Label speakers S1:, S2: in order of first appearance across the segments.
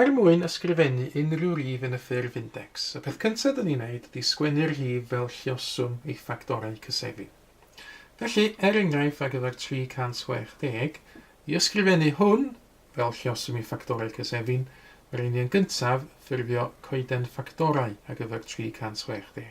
S1: Er mwyn ysgrifennu unrhyw rif yn y ffurf index, y peth cyntaf dyn ni'n neud ydi sgwennu'r rhif fel lluoswm ei ffactorau cysefu. Felly, er enghraifft ar gyfer 360, i ysgrifennu hwn fel lluoswm ei ffactorau cysefu'n, rhaid i ni yn gyntaf ffurfio coeden ffactorau ar gyfer 360.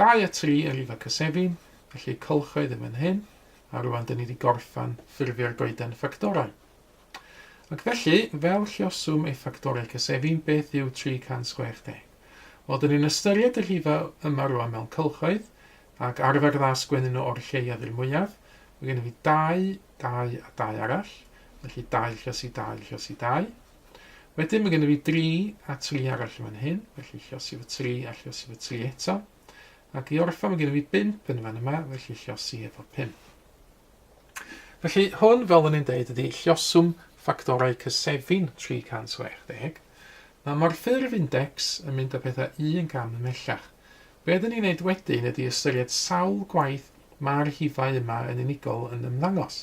S1: Dau a tri ar Rifa Cysefin, felly cylchoedd yn fan hyn, a rwan dyn ni wedi gorffan ffurfio'r goeden ffactorau. Ac felly, fel lluoswm ei ffactorau cysefin, beth yw 360? Wel, dyn ni'n ystyried y rhifa yma rwan mewn cylchoedd, ac arfer dda sgwennu nhw o'r lleiaf i'r mwyaf. Mae gen i fi dau, dau a dau arall, felly dau lluosi dau lluosi dau. Wedyn mae gennym ni 3 a 3 arall yn fan hyn, felly llosi fy 3 a llosi fy 3 eto. Ac i orffan mae gennym ni 5 yn fan yma, felly llosi efo 5. Felly hwn, fel o'n i'n deud, ydy lloswm ffactorau cysefin 360. Mae morffurf index yn mynd â pethau un gam ymhellach. Be ydyn ni'n neud wedyn ydy ystyried sawl gwaith mae'r rhifau yma yn unigol yn ymddangos.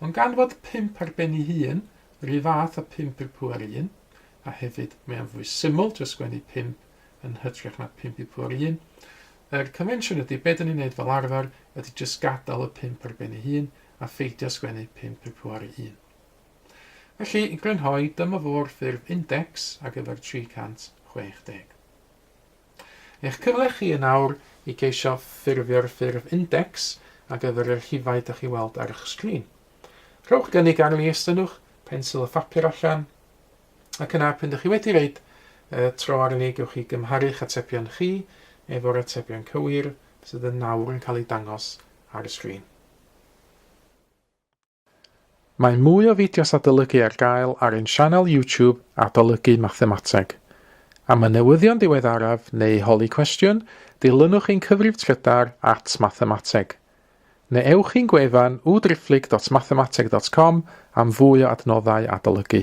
S1: Ond gan fod pump ar ben ei hun, yr un fath â phump i'r pŵer un, a hefyd mae o'n fwy syml trio sgwennu pump yn hytrach na phump i pŵer un, yr convention ydy, be dyn ni'n neud fel arfer, ydy jyst gadael y pump ar ben ei hun a pheidio sgwennu pump i'r pŵer un. Felly, i grynhoi, dyma fo'r ffurf index ar gyfer 360. Eich cyfle chi yn awr i geisio ffurfio'r ffurf index ar gyfer y rhifau dych chi'n weld ar eich sgrin. Rhowch gynnig arni, estynnwch pensil y phapur allan, ac yna pan dych chi wedi reid y tro arni gewch chi gymharu'ch atebion chi efo'r atebion cywir sydd yn nawr yn cael eu dangos ar y sgrin. Mae mwy o fideos adolygu ar gael ar ein sianel YouTube Adolygu Mathemateg. Am y newyddion diweddaraf neu holi cwestiwn, dilynwch ein cyfrif trydar at Mathemateg. Neu ewch i'n gwefan www.driphlyg.mathemateg.com am fwy o adnoddau adolygu.